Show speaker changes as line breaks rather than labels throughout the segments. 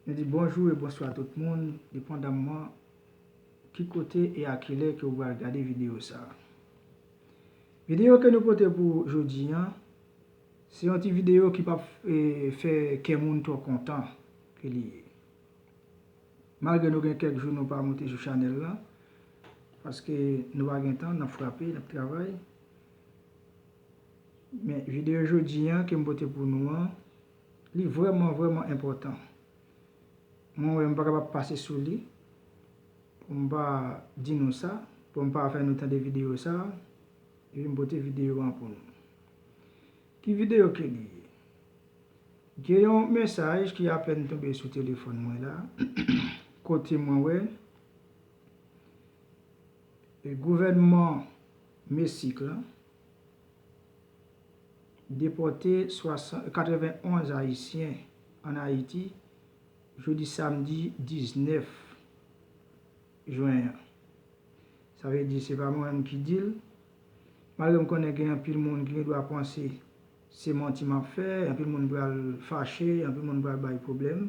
Nou di bonjou e bonswa tout moun, depandamman ki kote e a kilè ke ou pral gade videyo sa. Videyo ke nou pote pou ou jodi an, se yon ti videyo ki pap fè kè moun twò kontan ke li ye. Malgre nou gen kèk jou nou pa monte sou chanèl la, paske nou pa gen tan, nap frape, nap travay. Men video jodi an kem pote pou nou an li vreman vreman enpotan mwen wè m pa kapab pase sou li pou m pa di nou sa pou m pa fè nou tande video sa epi m pote video an pou nou ki video ke li ye gen yon mesaj ki apèn tonbe sou telefòn mwen la kote mwen wè. Gouvènman Mesik la depòte 91 ayisyen an Ayiti jodi samdi 19 jwen an. Sa vle di se pa mwen menm ki di l, malgre m konnen gen anpil moun ki gen dwa panse se manti m ap fè, anpil moun pral fache, anpil moun pral bay pwoblèm.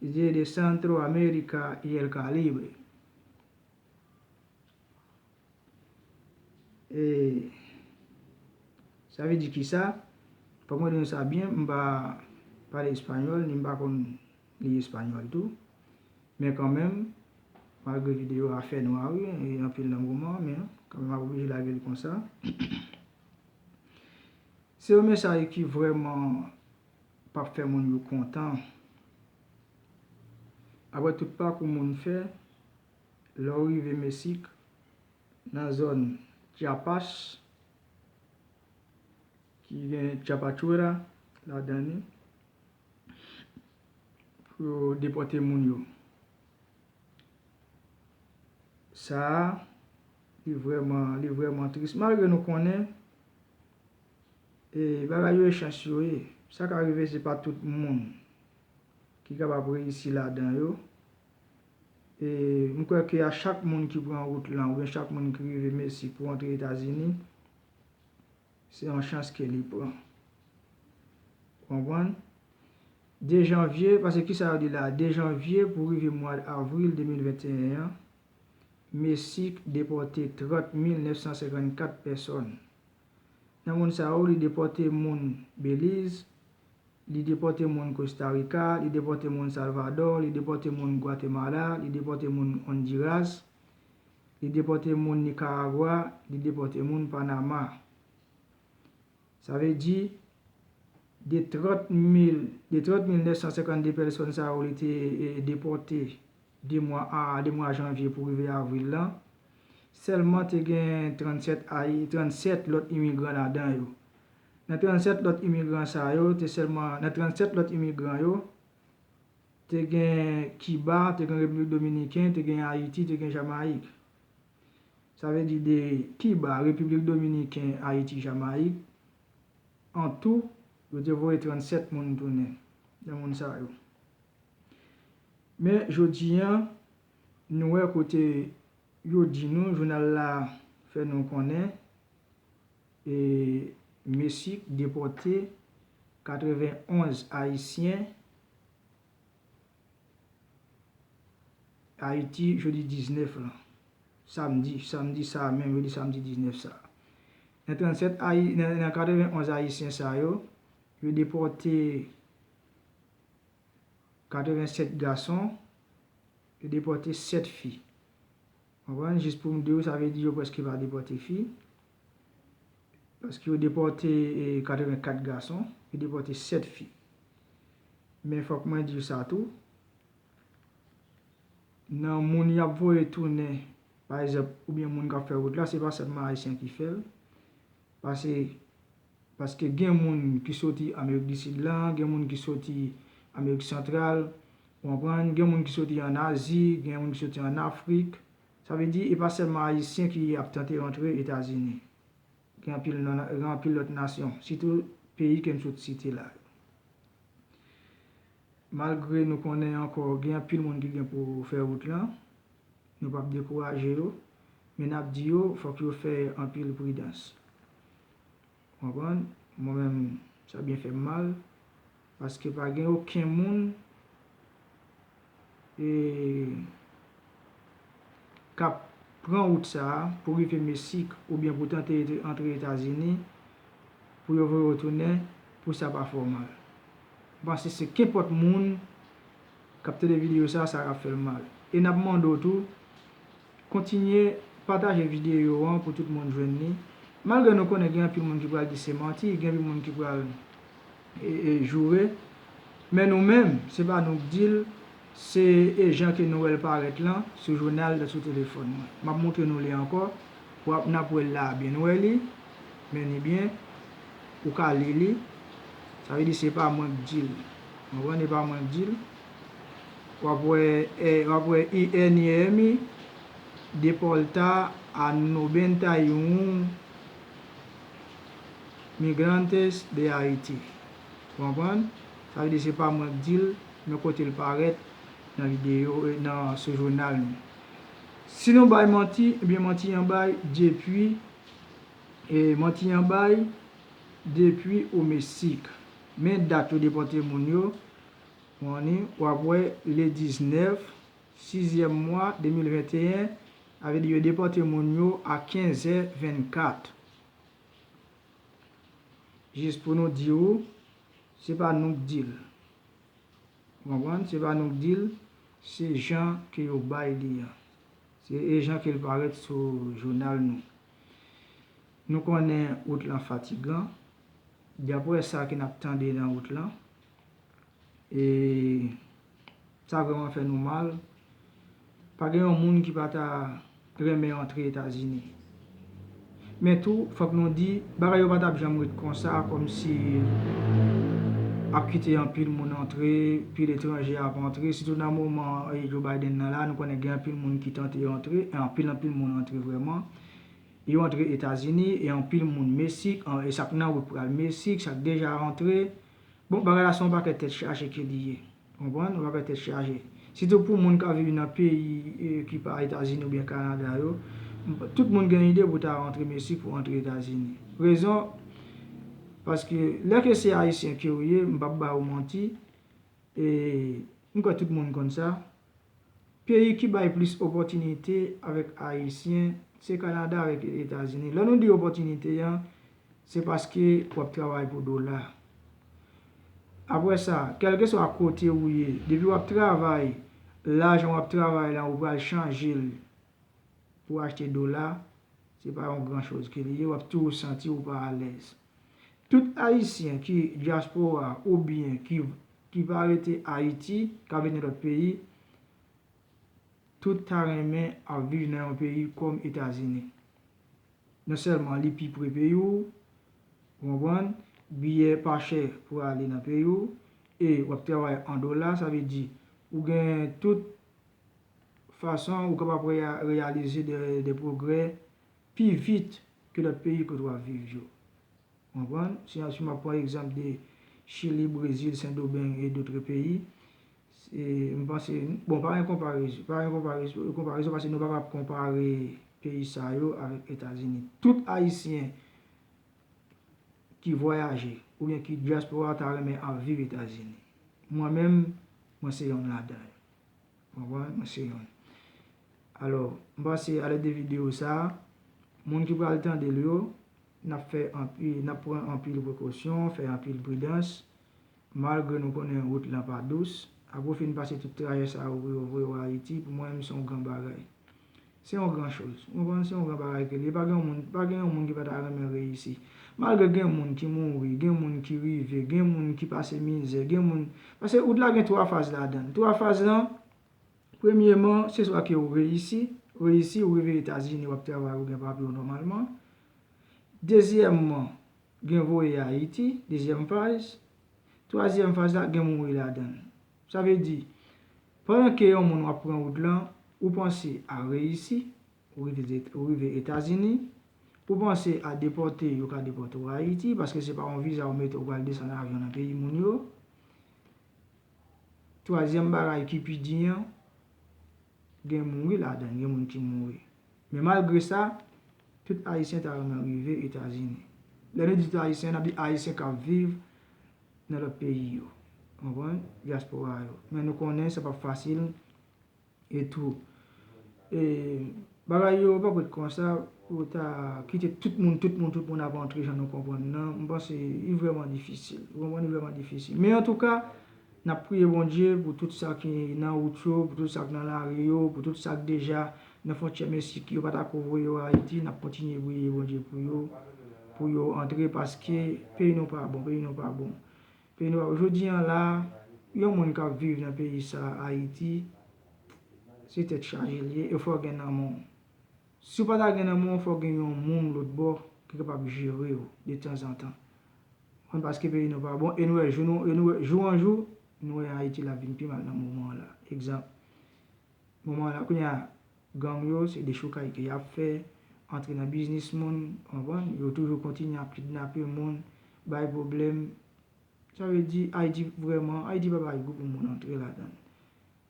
Didier de Centro America y el Calibre Eee Sa vle di kisa? Fòk mwen di nou sa byen, m pa pale espanyòl ni m pa konn li espanyòl tou. Men kanmenm, malgre videyo a fènwa wi, e anpil nan moman an, men kanmenm m ap oblije lage l konsa. Se yon mesaj ki vrèman Pap fè moun yo kontan. Aprè tout pakou moun fè, lè ou rive Mesik, nan zòn Chiapas, ki gen Chiapachuera ladan li, pou yo depòte moun yo. Sa a, li vrèman, li vrèman tris. Malgre nou konnen. E bagay yo e chans yo ye. Sa ka rive se pa tout moun ki kapab reyisi ladan yo. E m kwè ke a chak moun ki pran wout lan oubyen chak moun ki rive Mesi pou antre Etazini, se yon chans ke li pran. Ou konprann? 2 janvye, pase kisa yo di la a, 2 janvye pou rive mwad avril 2021 an, Mesi depòte 30 mil 954 pèsòn Nan moun sa yo, li depòte moun Beliz, li depòte moun Kosta Rika, li depòte moun Salvadò, li depòte moun Gwatemala, li depòte moun Ondiras, li depòte moun Nikaragwa, li depòte moun Panama. Sa vle di, de 30 mil, de 30 mil 952 pèsòn sa yo li te depòte 2 mwa a 2 mwa janvye pou rive avril lan, sèlman te gen 37 ayi 37 lòt imigran ladan yo. Nan 37 lòt imigran sa yo, te sèlman nan 37 lòt imigran yo, te gen Kiba, te gen Repiblik Dominiken, te gen Ayiti, te gen Jamayik. Sa vle di de Kiba, Repiblik Dominiken, Ayiti, Jamayik, antou, yo te voye 37 moun tounen nan moun sa yo. Men jodi a, nou wè kote yo di nou, jounal la fè nou konnen, e Mesic depòte 91 ayisyen Ayiti jodi 19 lan, samdi, samdi sa a menm, jodi samdi 19 sa a. Nan 37 ayi, nan 91 ayisyen sa yo, yo depòte 87 gason, yo depòte 7 fi. Konprann? Jis pou m di ou, sa vle di yo prèske pa depòte fi. Paske yo depòte 84 gason, yo depòte 7 fi. Men fòk mwen di ou sa tou, nan moun y ap voye tounen, pa egzanp, oubyen moun k ap fè wout la, se pa sèlman Ayisyen ki fè l. Pase, paske gen moun ki soti Amerik di Sid la, gen moun ki soti Amerik Santral, ou konprann, gen moun ki soti an Azi, gen moun ki soti an Afrik. Sa vle di, e pa sèlman Ayisyen ki ap tante rantre Etazini. Gen anpil nan, gen anpil lòt nasyon, sitou peyi ke m sot site la yo. Malgre nou konnen ankò gen anpil moun ki gen pou fè wout lan, Nou pap dekouraje yo, men nap di yo fòk yo fè anpil pridans. Ou konprann? Mwen menm, sa byen fè m mal, paske pa gen oken moun e kap pran wout sa a pou rive Mesik oubyen pou tante antre Etazini pou yo voye yo tounen pou sa pa fè w mal. M panse se kenpòt moun. kap tande video sa sa ka fèl mal e nap mande w tou kontinye pataje video an pou tout moun jwenn li malgre nou konnen gen anpil moun ki pral di se manti gen anpil moun ki pral joure men nou menm se pa nou k di l se e jan ke nou wèl parèt lan sou jounal dan sou telefòn mwen map moutre nou li ankò wap nap wèl la a byen nou wè li men ni byen ou ka li li sa vle di se pa mwen k di l. Konprann e pa mwen k dil. Wap wè wap wè INIEMI depòlta a nobenta y un migrantes de Haiti. Ou konprann? Sa vle di se pa mwen k dil men kote l parèt nan videyo nan sou jounal nou. Si nou bay manti ebyen manti an bay depui manti an bay depui o mesik. Men dat yo depòte moun yo, Morning, ou ap wè le 19 sizyèm mwa 2021, sa vle di yo depòte moun yo a 15 zè 24. Jis pou nou di ou, se pa nou k di l. Ou konprann? Se pa nou k di l, se jan ke yo bay li an. Se e jan ke l parèt sou jounal nou. Nou konnen wout lan fatigan. Daprè sa ke n ap tande nan wout lan, e sa vrèman fè nou mal, pa gen yon moun ki pa ta renmen antre Etazini. Men tou, fòk nou di, bagay yo pa t ap janm ret konsa, kòmsi ap kite anpil moun antre, pil etranje ap antre, sitou nan moman Joe Biden nan la, nou konnen gen anpil moun ki tante antre, anpil anpil moun antre vrèman. Yo antre etazini e anpil moun mesik an e sak nan wout pral mesik sak deja rantre bon bagay la se yon pakèt tèt chaje ke li ye ou konprann yon pakèt tèt chaje sitou pou moun kap viv nan peyi ki pa etazini oubyen kanada yo tout moun gen ide pou ta rantre mesik pou antre etazini rezon paske lè ke se ayisyen kew ye m pap ba ou manti e m kwè tout moun konn sa Peyi ki bay plis opòtinite avèk Ayisyen, se Kanada avèk Etazini. Lè nou di opòtinite an, se paske w ap travay pou dola. Apre sa, kèlkeswa kote ou ye, depi w ap travay, lajan w ap travay lan ou pral chanje l pou achte dola, se pa yon gran choz ke li ye, w ap toujou santi ou pa alèz. Tout ayisyen ki dyaspora ou byen ki pa rete ayiti kap viv nan lòt peyi tout ta renmen ap viv nan yon peyi kòm etazini non sèlman li pi pre peyi w ou konprann biyè pa chè pou ale nan peyi w e wap travay an dola sa vle di ou gen tout fason ou kapab reyalize de pwogrè pi vit ke lòt peyi kote wap viv yo. Ou konprann? Si an si map pran egzanp de Chili, Brezil, Sendomeng e dotre peyi, se m panse, bon pa gen konparezon, pa gen konparezon paske nou pa kap konpare peyi sa yo avèk Etazini. Tout Ayisyen ki vwayaje oubyen ki dyaspora ta renmen al viv Etazini. Mwen menm, mwen se yonn ladan yo. Mwen wè mwen se yon. Alò, m panse alèd de videyo sa a, moun ki pral tande l yo, n ap fè anpil, n ap pran anpil prekosyon, fè anpil pridans, malgre nou konnen wout lan pa dous. Apre w fin pase tout trajè sa yo pou yo voye w Ayiti, pou mwen menm se yon gran bagay. Se yon gran choz. Ou konprann? Se yon gran bagay ke l ye. Pa gen yon moun, pa gen yon moun ki pa ta renmen reyisi. Malgre gen moun ki mouri, gen moun ki rive, gen moun ki pase mizè, gen moun, paske wout la gen twa faz ladan l. Twa faz lan, premyeman, se swa ke ou reyisi, reyisi, ou rive Etazini, w ap travay, ou gen papye w nòmalman. Dezyèmman, gen voye Ayiti, dezyèm faz. Twazyèm faz la, gen mouri ladan l. Sa vle di, Pandan ke yon moun wap pran wout lan, ou panse a reyisi, ou rive ze, ou rive Etazini, ou panse a depòte, yo ka depòte ou Ayiti, paske se pa yon viza ou mete ou pral desann avyon nan peyi moun yo. Twazyèm bagay ki pi di an, gen mouri ladann, gen moun ki mouri. Men malgre sa, tout Ayisyen ta renmen rive Etazini. Lè nou di tout Ayisyen, nap di Ayisyen kap viv nan lòt peyi yo. Ou konprann? Dyaspora yo. Men nou konnen sa pap fasil e tou. E bagay yo pap ret konsa pou yo ta kite tout moun, tout moun, tout moun ap antre jan nou konprann nan. M panse li vrèman difisil. Ou konprann? Li vrèman difisil. Men antouka, n ap priye Bondye pou tout sa ki nan wout yo, pou tout sa k nan lari yo, pou tout sa k deja Nan fontyè mesik yo pa ta ko voye yo ayiti nap kontinye briye bondye pou yo pou yo antre paske peyi nou pa bon peyi nou pa bon peyi nou pa bon jodi an la yon moun kap viv nan peyi sa ayiti se tèt chaje li ye e fò gen nanm ou si ou pa ta gen nanm ou fò gen yon moun lòt bò ki kapab jere ou de tanzantan an paske peyi nou pa bon e nou wè jou an jou nou wè ayiti la vin pi mal nan moman an la egzanp Moman an la kounye a gang yo se dechoukay ke yap fè, antre nan biznis moun, ou konprann, yo toujou kontinye ap kidnape moun, bay pwoblèm, sa vle di Ayiti vrèman, Ayiti pa bagay pou moun antre ladan l.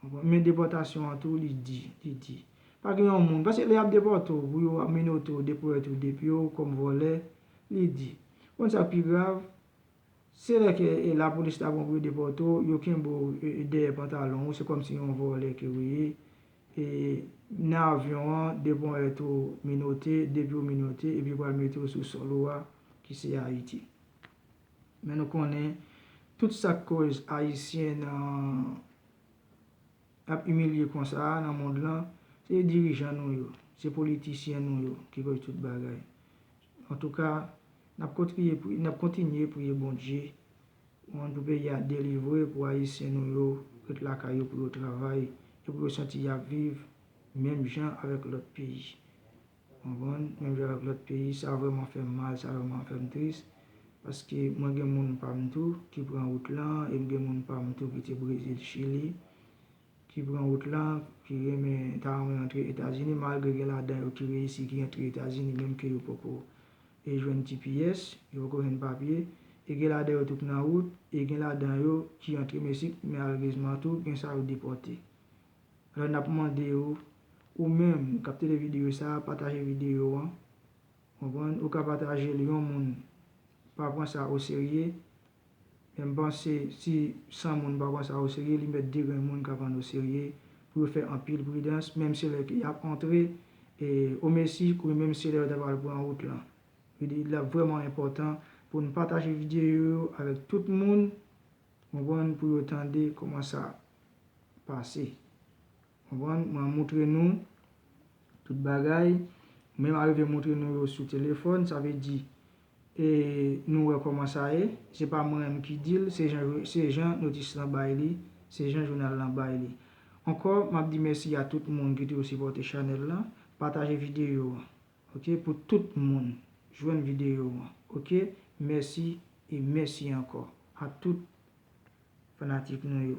Ou konprann, men depòtasyon an tou li di, li di. Pa gen yon moun, paske lè yap depòte w pou yo minote w, depoète w depi w kòm vòlè, li di. Ou konn sa k pi grav, Se lè ke la polis ta bon pou yo depòte w, yo kenbe w dèyè pantalon ou, se kòm si yon vòlè ke ou ye. E nan avyon an, 2 ponyèt ou minote, 2 pye w minote, epi yo pral mete w sou sòl ou a, ki se Ayiti. Men nou konnen, tout sa k koz Ayisyen nan, ap imilye konsa a nan mond lan, se dirijan nou yo, se politisyen nou yo ki koz tout bagay. Antouka nap kontriye priye nap kontinye priye Bondye one pou peyi a delivre pou ayisyen nou yo ret lakay yo pou yo travay e pou yo santi yap viv menm jan avèk lòt peyi konprann menm jan avèk lòt peyi sa vrèman fèm mal sa vrèman fèm tris paske mwen gen moun pam tou ki pran wout lan em gen moun pam tou ki te brezil chili ki pran wout la, ki renmen ta renmen antre Etazini malgre gen ladan yo ki reyisi ki antre Etazini menm ke yo poko e jwenn tps, yo poko jwenn papye, e gen ladan yo tou k nan wout, e gen ladan yo ki antre Meksik men alerezman tou gen sa yo depòte. Alò nap mande yo, ou menm kap tede videyo sa a pataje videyo an, konprann, ou ka patajel yon moun pa pran sa oserye, Men m panse si 100 moun pa pran sa oserye li mèt degrenn moun ka prann oserye pou yo fè anpil pridans menm se lè ke y ap antre o mesi ou menm se lè yo ta pral pran wout lan. Li ap vrèman enpòtan pou n pataje videyo yo avèk tout moun ou konprann pou yo tande kòman sa pase. Konprann? Mwen montre nou tout bagay. Menm arive montre nou yo sou telefòn. Sa vle di, e nou wè kòman sa ye. Se pa mwen menm ki di l, se jan notis lan bay li, se jan jounal lan bay li. Ankò, m ap di mèsi a tout moun ki toujou sipòte chanèl lan. Pataje videyo an, ok, pou tout moun jwenn videyo an, ok. Mèsi e mèsi ankò a tout fanatik nou yo.